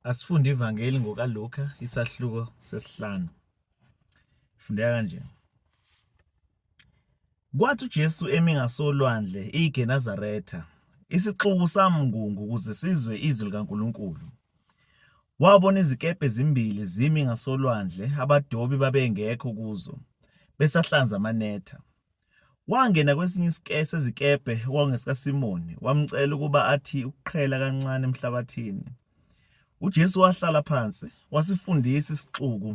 Asifunde ivangeli ngokaLuka isahluko sesihlanu. Fundeka kanje. Kwathi uJesu emi ngasolwandle iGenesaretha, isixuku samngungu ukuze sizwe izwi likaNkulunkulu. Wabona izikepe ezimbili zimi ngasolwandle, abadobi babengekho kuzo, besahlanza amanetha. Wangena kwesinye isike sezikebhe okwakungesikaSimoni, wamcela ukuba athi ukuqhela kancane emhlabathini. UJesu wahlala phansi, wasifundisa isixuku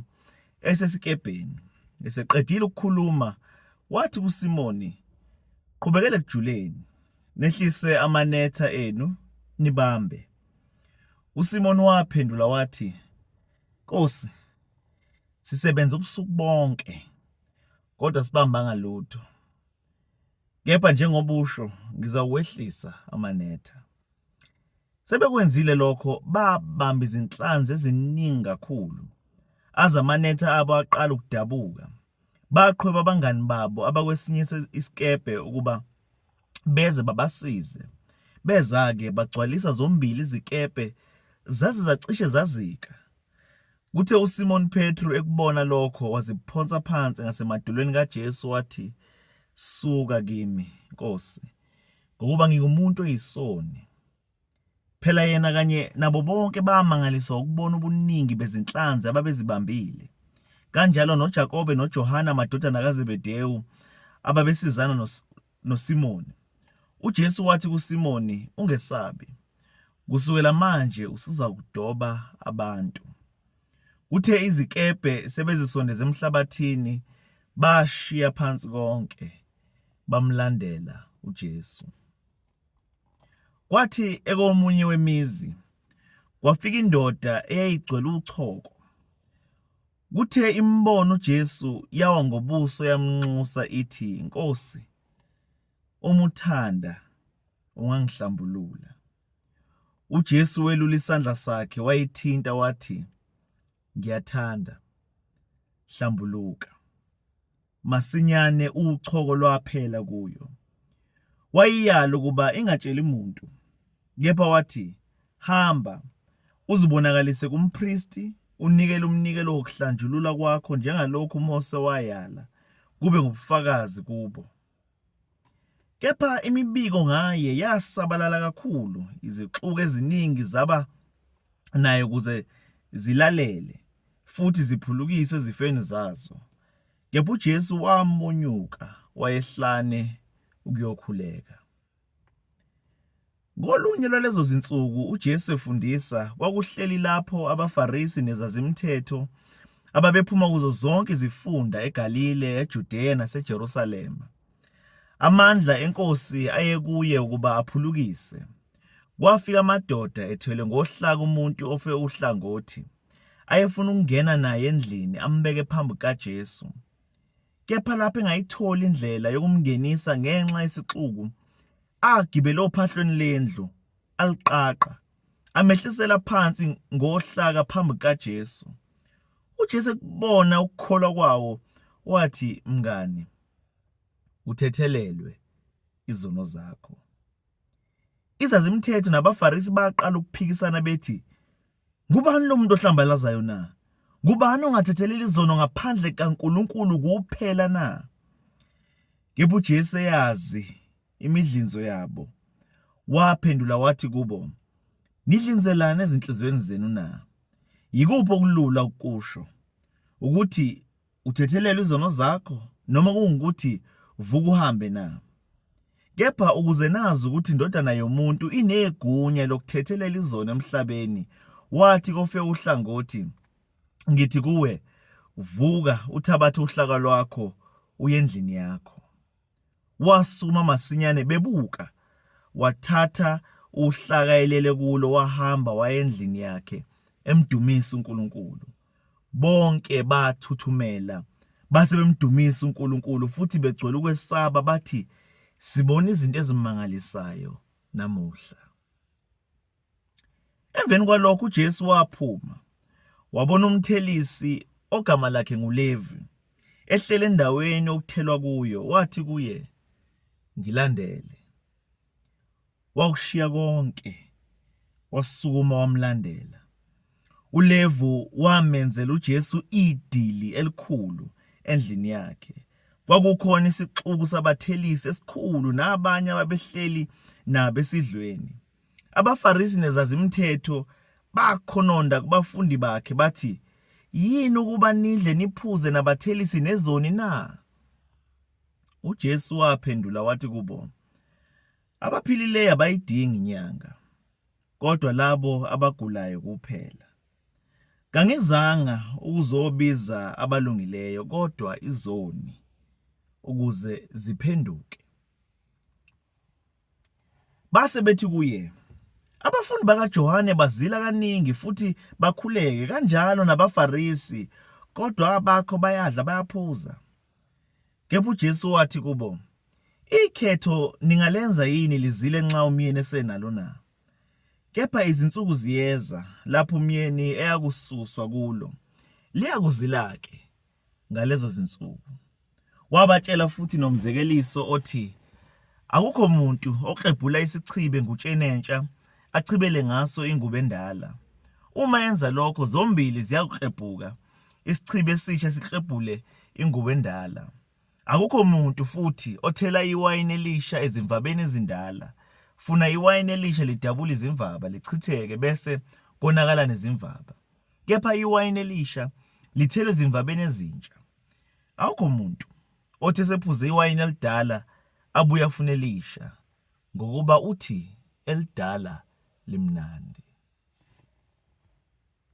esesikebheni. Eseqedile ukukhuluma, wathi kuSimoni, "Qhubekela ekujuleni, nehlise amanetha enu nibambe." USimoni waphendula wathi, "Nkosi, sisebenza ubusuku bonke." kodwa sibambanga lutho. Kepha njengoba usho ngizawuwehlisa amanetha. Sebekwenzile lokho babamba izinhlanzi eziningi kakhulu. Aze amanetha abo aqala ukudabuka. Baqhweba abangani babo abakwesinye isikebhe ukuba beze babasize. Beza-ke bagcwalisa zombili izikebhe zaze zacishe zazika. Kuthe uSimoni Petru ekubona lokho waziphonsa phansi ngasemadolweni kaJesu wathi, Suka kimi, Nkosi, ngokuba ngingumuntu oyisoni. Phela yena kanye nabo bonke bamangaliswa ukubona ubuningi bezinhlanzi ababezibambile. Kanjalo noJakobe noJohane amadodana kaZebedewu ababesizana noSimoni. UJesu wathi kuSimoni, Ungesabi, kusukela manje usuzakudoba abantu. Kuthe izikebhe sebezisondeze emhlabathini, bashiya phansi konke, bamlandela uJesu. Kwathi ekomunye wemizi kwafika indoda eyayigcwele uchoko. Kuthe imbona uJesu yawa ngobuso yamnxusa ithi, Nkosi, uma uthanda ungangihlambulula. UJesu welula isandla sakhe wayithinta wathi, Ngiyathanda, hlambuluka. Masinyane uchoko lwaphela kuyo. Wayiyala ukuba ingatsheli muntu, kepha wathi, Hamba, uzibonakalise kumpristi, unikele umnikelo wokuhlanjulula kwakho njengalokhu uMose wayala, kube ngubufakazi kubo. Kepha imibiko ngaye yasabalala kakhulu, izixuku eziningi zaba naye ukuze zilalele futhi ziphulukiswe ezifeni zazo. Kepha uJesu wamonyuka wayehlane ukuyokhuleka. Ngolunye lwalezo zinsuku uJesu efundisa, kwakuhleli lapho abaFarisi nezazimthetho ababephuma kuzo zonke izifunda eGalile, eJudeya naseJerusalema. Amandla eNkosi ayekuye ukuba aphulukise. Kwafika amadoda ethwele ngohlaka umuntu ofe uhlangothi, ayefuna ukungena naye endlini ambeke phambi kukaJesu. kepha lapho engayitholi indlela yokumngenisa ngenxa yesixuku, agibele ophahlweni lendlu, aliqaqa, amehlisela phansi ngohlaka phambi kukaJesu. UJesu ekubona ukukholwa kwawo, wathi, Mngane, uthethelelwe izono zakho. Izazimthetho nabaFarisi baqala ukuphikisana bethi, Ngubani lo muntu ohlambalazayo na? Ngubani ongathethelela izono ngaphandle kaNkulunkulu kuphela na? Kepha uJesu eyazi imidlinzo yabo, waphendula wathi kubo, Nidlinzelani ezinhliziyweni zenu na? Yikuphi okulula ukusho, ukuthi uthethelele izono zakho noma kungukuthi vuka uhambe na? Kepha ukuze nazi ukuthi indodana yomuntu inegunya lokuthethelela izono emhlabeni, wathi kofe uhlangothi, Ngithi kuwe, vuka uthabathe uhlaka lwakho uye endlini yakho. Wasukuma masinyane bebuka, wathatha uhlaka elele kulo wahamba waya endlini yakhe emdumisa uNkulunkulu. Bonke bathuthumela base bemdumisa uNkulunkulu futhi begcwele ukwesaba bathi, Sibona izinto ezimangalisayo namuhla. Emveni kwalokho uJesu waphuma wabona umthelisi ogama lakhe nguLevi ehlele endaweni okuthelwa kuyo wathi kuye ngilandele wakushiya konke wasukuma wamlandela uLevu wamenzela uJesu idili elikhulu endlini yakhe kwakukhona isixuku sabathelisi esikhulu nabanye ababehleli nabo esidlweni AbaFarisi nezazimthetho bakhononda kubafundi bakhe bathi, Yini ukuba nidle niphuze nabathelisi nezoni na? UJesu waphendula wathi kubo, Abaphilileyo abayidingi inyanga, kodwa labo abagulayo kuphela. Kangizanga ukuzobiza abalungileyo kodwa izoni ukuze ziphenduke. Base bethi kuye, Abafundi bakaJohane bazila kaningi futhi bakhuleke, kanjalo nabaFarisi, kodwa abakho bayadla bayaphuza. Kepha uJesu wathi kubo, Ikhetho ningalenza yini lizile nxa umyeni esenalo na? Kepha izinsuku ziyeza lapho umyeni eyakususwa kulo, liyakuzila-ke. ngalezo zinsuku. Wabatshela futhi nomzekeliso othi akukho muntu oklebhula isichibe ngutshenentsha achibele ngaso ingubo endala. Uma enza lokho zombili ziyakuklebhuka, isichibe esisha siklebhule ingubo endala. Akukho muntu futhi othela iwayini elisha ezimvabeni ezindala. Funa iwayini elisha lidabule izimvaba, lichitheke bese konakala nezimvaba. kepha iwayini elisha lithelwe ezimvabeni ezintsha. Awukho muntu othi esephuze iwayini elidala abuye afune elisha ngokuba uthi elidala limnandi.